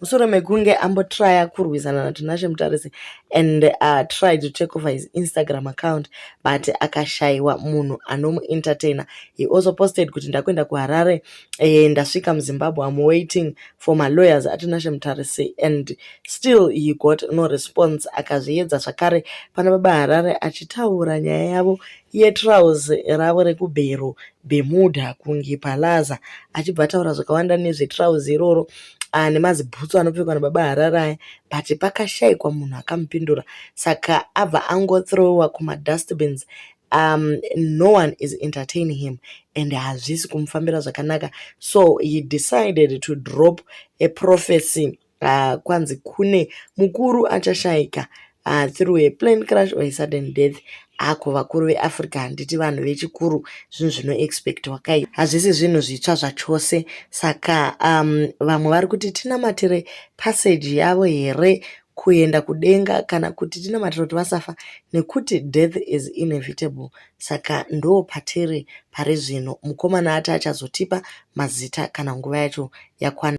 musoro mekunge ambotrya kurwisana natinashe mutarisi and uh, try to take over his instagram account but akashaiwa munhu anomuentertainer he also posted kuti ndakuenda kuharare eh, ndasvika muzimbabwe am waiting for malawyers atinashe mutarisi and still he got no response akazviedza zvakare pana baba harare achitaura nyaya yavo yetrows ravo rekubhero bemuda kunge palaza achibva ataura zvakawanda nezvetrows iroro e ah, nemazibhutsu anopfekwa nababa harari aya but pakashaikwa munhu akamupindura saka abva angothrowa kumadustbins um, no one is entertaining him and hazvisi kumufambira zvakanaka so he decided to drop a prophecy uh, kwanzi kune mukuru achashaika Ah, through a plane crash or a sudden death ako vakuru veafrica handiti vanhu vechikuru zvinhu zvinoexpectwa kai hazvisi zvinhu zvitsva zvachose saka um, vamwe vari kuti tinamatire passage yavo here kuenda kudenga kana kuti tinamatira kuti vasafa nekuti death is inevitable saka ndo patiri pari zvino mukomana ati achazotipa mazita kana nguva yacho yakwana